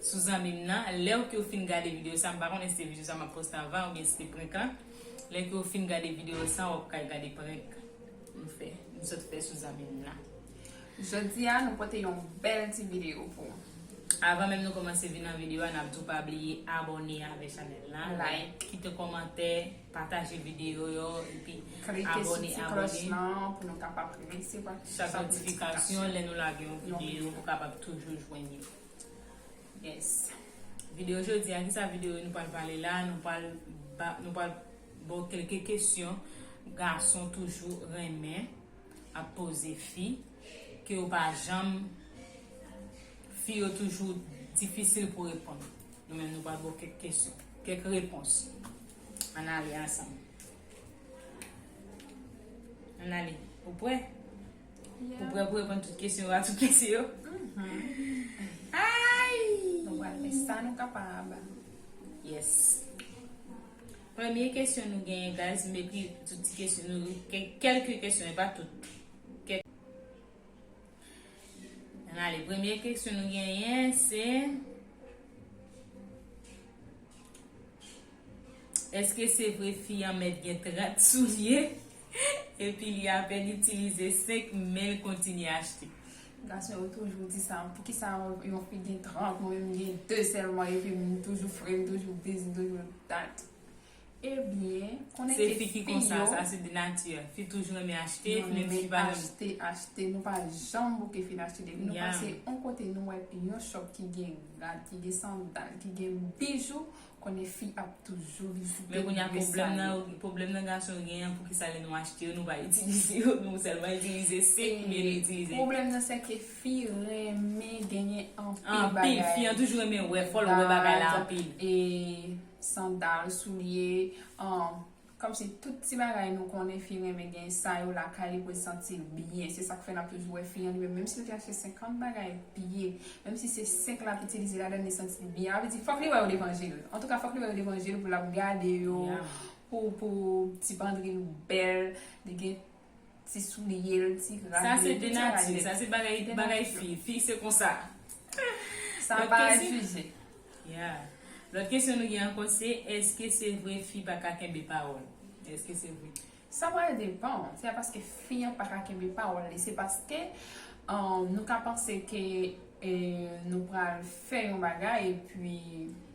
sou zanmim nan lèw ke ou fin gade video sa m pa konnen si se video sa map poste anvan oubyen si se prank an lè ke ou fin gade video sa wap kal gade prank m fè m sot fè sou zanmim nan. Jodia nou pote yon bèl ti video pou ou. Avan menm nou komanse vin nan video a nap diw pa bliye abòne avè chanèl la like kite kòmantè pataje video yo epi klike sou ti klòch lan pou nou kapab resevwa chak notifikasyon lè nou lage yon video pou kapab toujou jwenn yo. Yes Video jodi a kisa video nou pral pale la nou pral nou pral baw kelke kesyon gason toujou renmen ap poze fi ke yo pa janm fi yo toujou difisil pou reponn nou men nou pral baw kek kesyon kek repons an ale ansanm an ale ou prè Ou prè pou reponn tout kesyon yo a tout mesye yo? Nou pral fè sa nou kapab. Yes. Premye kesyon nou genyen guys, m ekri tout ti kesyon nou yo, kelke kesyon e pa tout. Ann ale, premye kesyon nou genyen se. Eske se vre fi an mèt gen 30 soulye epi li apèn itilize 5 men l kontinye achte. Gason yo toujou di sa, poukisa yon fi gen 30, mwen menm gen 2 sèlman epi m toujou fre, m toujou dis, m toujou dat. Ebyen, konnen ke fi yo. Se fi ki konsa, sa se de nati. Fi toujou renmen achte, fi menm si pa renmen. Achte, achte, nou pa janm bouke fin achte. Depi nou pase yon kote nou wè yon chòp ki gen rad, ki gen sandal, ki gen bijou. Konnen fi ap toujou vizite Men kounya Gresale. pwoblèm nan yo, pwoblèm nan gason yo genyen an pouki sa lè nou achte yo nou pa itilize yo, nou sèlman itilize sik oubyen nou itilize. Pwoblèm nan se ke fi renmen genyen anpil bagay. Anpil, fi an toujou renmen wè, fòl wè bagay la anpil. Vaz, e sandal, soulye, Kòmsi tout ti bagay nou konnen fi renmen gen sa yo lakay li pou l santi l byen se sak fè nap toujou wè fi an li menm menm si l te achte 50 bagay piye menm si se 5 lap itilize ladann li santi l byen avl di fòk li wè yo devan je l antouka fòk li wè yo devan je l pou lap gade yo pou pou ti pandri l bèl li gen ti souliye l ti rad li. Sa se de nati, sa se bagay fi, fi se konsa. Sa pa refize. Ya. Lòt kesyon nou gen ankò se, èske se vre fi pa ka kenbe pawòl? Èske se vre? Sa pral depan, se pa paske fi an pa ka kenbe pawòl li, se paske nou ka panse ke nou pral fè yon bagay epi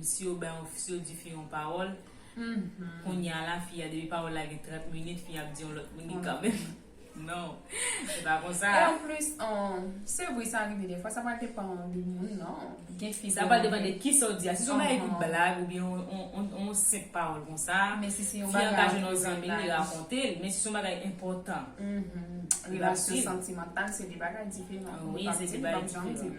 Si yo bay yon si yo di fi yon pawòl kounya la fi a depi pawòl la gen 30 minit fi a ap di yon lòt minit kanmenm non se pa konsa. E anplis se vre sa rive dèfwa sa pa depan de moun non gen fi sa pral depan de kisa ou di a si se yon bagay pou blag oubyen yon senp pawòl konsa fi an ka jwenn yon zanmi li rakonte l men si se yon bagay enpòtan relasyon santimantal se 2 bagay diferan ou pap di li pap janm di l.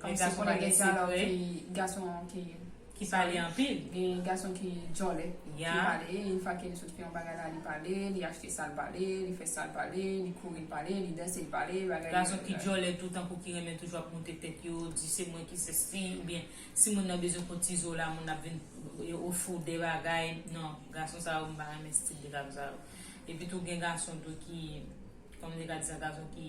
Gen gason konnen gen ti alò ki gason ki ki pale anpil. Gen gason ki djòlè ki pale yn fwa ke li sot fè yon bagay la li pale li achte sal pale li fè sal pale li kouri l pale li danse l pale bagay li gason ki djòlè tou tankou ki renmen toujou ap moute tèt yo di se mwen ki sesi oubyen si moun nan bezwen fon ti zo la moun ap vin yo ofri w de bagay nan gason sa yo m pa renmen stil de gason sa yo epi tou gen gason tou ki kòman m te ka di sa gason ki.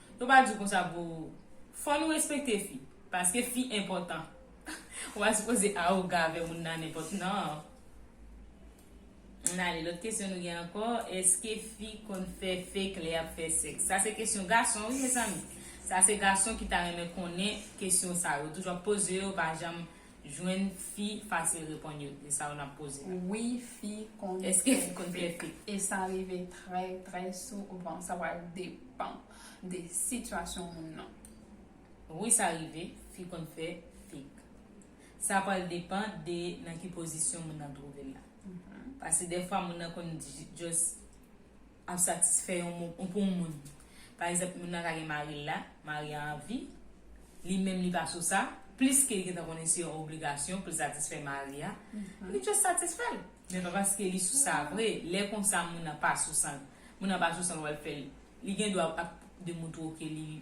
Yo pa diw konsa boo. Fò nou respekte fi. Paske fi enpòtan. Ou pa sipoze arogan avè moun nan nenpòt nan. Ann ale lòt kesyon nou gen ankò. Eske fi konn fè fake lè yap fè sèks? Sa se kesyon gason wi mezanmi. Sa se gason ki ta renmen konnen kesyon sa. Yo toujou ap poze yo pa janm. jwenn fi fasil reponn yo de sa yo nap poze la. Wi fi konn fè fek e sa rive trè trè souvan sa pral depan de sitiyasyon moun nan. Wi sa rive fi konn fè fek sa pral depan de nan ki pozisyon moun nan twouvel la pase dèfwa moun nan konn just ap satisfè yon moun ou pou yon moun pa egzanp moun nan ka gen maril la mari a anvi li menm li pa sou sa plis ke li gentan konnen se yon obligasyon poul satisfè mari a li just satisfèl men pa paske li sou sa vre lè konsa moun nan pa sou san moun nan pa sou san wal fèl li gen dwa ap de moun twoke li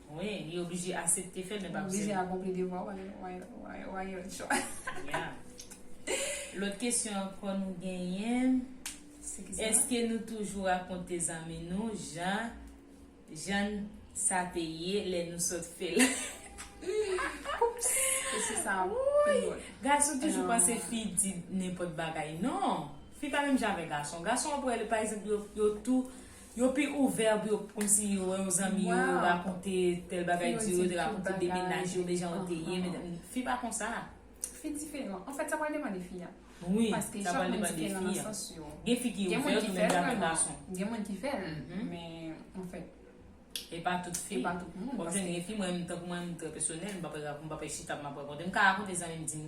Wi, li oblije asepte fèl men pa pou sèvi. Ou oblije akonpli devwa w a yon chwa. Ya. Lòt kesyon ankò nou genyen, èske nou toujou rakonte zanmi nou jan jan sa te ye lè nou sot fè l? Oupss! Kesyon sa a pi dwòl. Gason toujou panse fi di nenpòt bagay. Non! Fi pa menm jan avèk gason. Gason ou ap wè, pa egzanp, yo tou Yo pi ouvè pou yo kòmsi yo wè yon zanmi yo rakonte tèl bagay di yo, yo te rakonte de mennaj yo, de jan yo te ye, fi pa konsa. Fi diferan. Anfèt sa pral depan de fi a. Wi, sa pral depan de fi a. Gen fi ki ouvè tou menm jan avèk gason. Gen moun ki fèl, men anfèt. E pa tout fi. E pa tout moun. Wap jwenn gen fi mwen menm tankou mwen menm trè pèsonèl, m pa pral chita ap m ap rakonte. M ka rakonte zanmi m di m.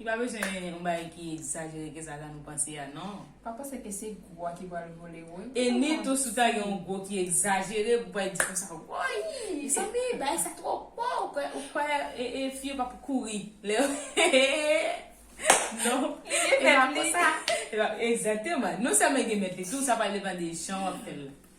Li pa bezwen yon bagay ki egzajere ke sa jan nou panse a non. Pa panse ke se gwo a ki pral vole ou. E ni tou si w ta gen yon gwo ki egzajere pou w pa di konsa woy mezanmi bagay sa two gwo ou kwè ou kwè e fi yo pap kouri lè yo non e pa konsa. Egzateman non sèlman gen mèt li tou sa pa depan de jan wap fè l la.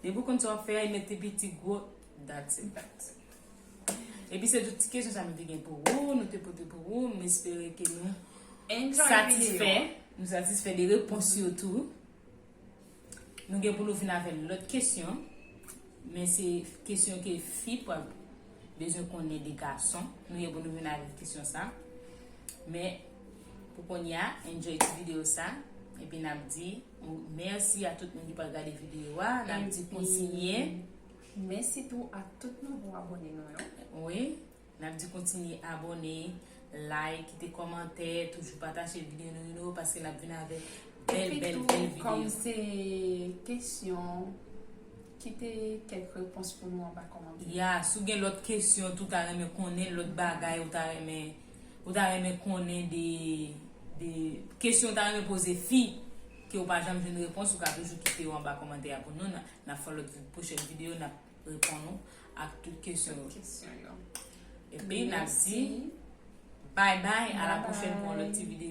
Depi ou konn sa wap fè a e met pi piti gwo that's it guys. Epi se tout ti kesyon sa nou te gen pou ou, nou te pote pou ou, m espere ke nou satisfè, nou satisfè de repons yo tou. Nou gen pou nou vin avèk lòt kesyon, men se kesyon ke fi pral bezwen konnen de gason, nou gen pou nou vin avèk kesyon sa. Men pou konya, enjoy ti video sa, epi nap di. Mèsi a tout moun ki pral gade video a, nap di kontinye. Mèsi tou a tout nouvo abone nou yo. Wi, nap di kontinye abone, like, kite komantè, toujou pataje video nou yo paske nap vin avèk bèl bèl bèl video. Epitou kòm se kesyon, kite kèk repons pou nou anba komantè. Ya, si w gen lòt kesyon tou ta renmen konnen, lòt bagay ou ta renmen. Ou ta renmen konnen de de kesyon ou ta renmen poze fi ke ou pa janm jwenn repons ou ka toujou kite yo anba kòmantè a pou nou nap fè lòt pwochèn videyo nap reponn ou ak tout kesyon yo epi nap di bay bay a la pwochèn pou yon lòt ti videyo.